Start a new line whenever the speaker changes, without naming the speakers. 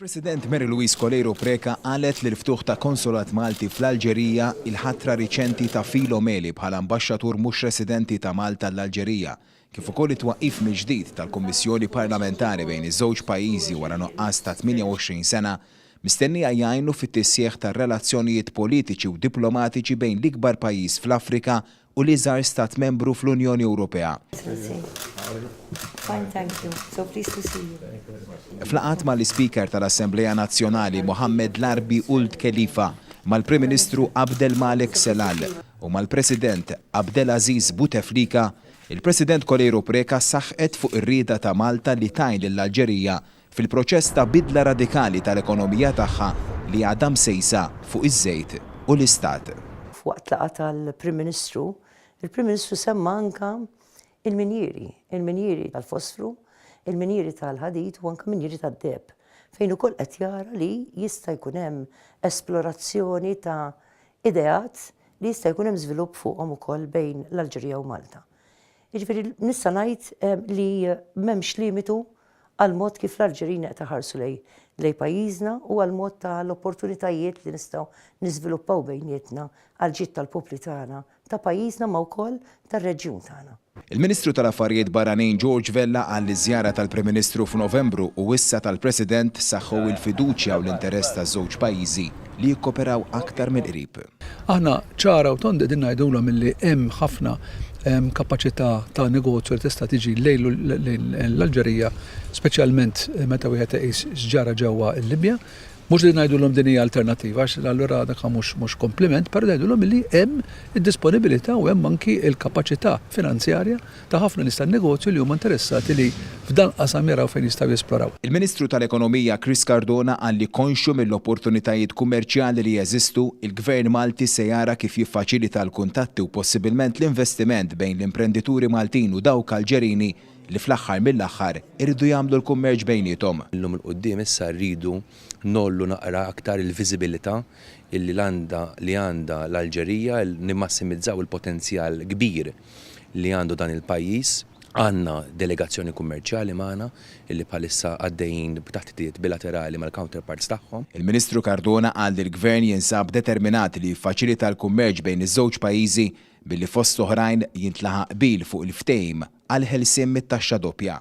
Il-President Mary Louise Coleiro Preca qalet li l-ftuħ ta' Konsulat Malti fl-Alġerija, il-ħatra riċenti ta' Filo Meli bħala Ambaxxatur mhux residenti ta' Malta għall-Alġerija, kif ukoll it-twaqqif mill-ġdid tal-Kummissjoni Parlamentari bejn iż-żewġ pajjiżi wara nuqqas ta' 28 sena, mistennija jgħinu fit-tisħiħ tar-relazzjonijiet politiċi u diplomatiċi bejn l-ikbar pajjiż fl-Afrika u l-iżgħar Stat Membru fl-Unjoni Ewropea.
F'laqgħat
mal-Ispeaker tal-Assemblea Nazzjonali Mohammed Larbi Ould Khelifa, mal-Prim Ministru Abdel Malek Sellal u mal-President Abdelaziz Bouteflika, il-President Coleiro Preca saħqet fuq ir-rieda ta' Malta li tgħin lill-Alġerija fil-proċess ta' bidla radikali tal-ekonomija tagħha li għadha msejsa fuq iż-żejt u l-Istat. F'waqt laqgħa
tal-Prim Ministru, il-Prim Ministru semma anke il-minjieri, il-minjieri tal-fosfru, il-minjieri tal-ħadid u anke minjieri tad-deheb, fejn ukoll qed jara li jista' jkun hemm esplorazzjoni ta' ideat li jista' jkun hemm żvilupp fuqhom ukoll bejn l-Alġerija u Malta. Jiġifieri nista' ngħid li m'hemmx limitu għall-mod kif l-Alġerin qed iħarsu lejn pajjiżna u għall-mod ta' l-opportunitajiet li nistgħu niżviluppaw bejnietna għall-ġid tal-popli tagħna, ta' pajjiżna ma wkoll tar-reġjun tagħna. Il-Ministru ta' l-Affarijiet
Barranin George Vella qal li ż-żjara tal-Prim Ministru f'Novembru u issa tal-President saħħu l-fiduċja u l-interess taż-żewġ pajjiżi. li jikkoperaw aktar mill-qrib. Aħna ċara
u tond qegħdin ngħidulhom illi hemm ħafna kapaċità ta' negozju li tista' tiġi lejn l-Alġerija, speċjalment meta wieħed iqis x'ġara ġewwa l-Libja. Mhux li ngħidulhom din hija alternattiva għax allura dak mhux kompliment, però ngħidulhom illi hemm id-disponibilità u hemm anki l-kapaċità finanzjarja ta' ħafna nies tan-negozju li huma interessati li f'dan il-qasam jaraw fejn jistgħu jesploraw. Il-Ministru tal-Ekonomija
Chris Cardona qal li konxju mill-opportunitajiet kummerċjali li jeżistu, il-Gvern Malti se jara kif jiffaċilita l-kuntatti u possibilment l-investiment bejn l-imprendituri Maltin u dawk Alġerini li fl-aħħar mill-aħħar iridu jagħmlu l-kummerċ bejniethom. Mill-lum 'l quddiem issa
rridu ngħollu naqra aktar il-viżibilita' li għandha l-Alġerija, nimmassimizzaw il-potenzjal kbir, li għandu dan il-pajjiż. Għandna delegazzjoni kummerċjali magħna li bħalissa għaddejjin b'taħditiet bilaterali mal-counterparts tagħhom. Il-Ministru Cardona
qal li l-Gvern jinsab determinat li jiffaċilita l-kummerċ bejn iż-żewġ pajjiżi billi fost l-oħrajn jintlaħaq qbil fuq il-ftehim għall-ħelsien mit-taxxa doppja.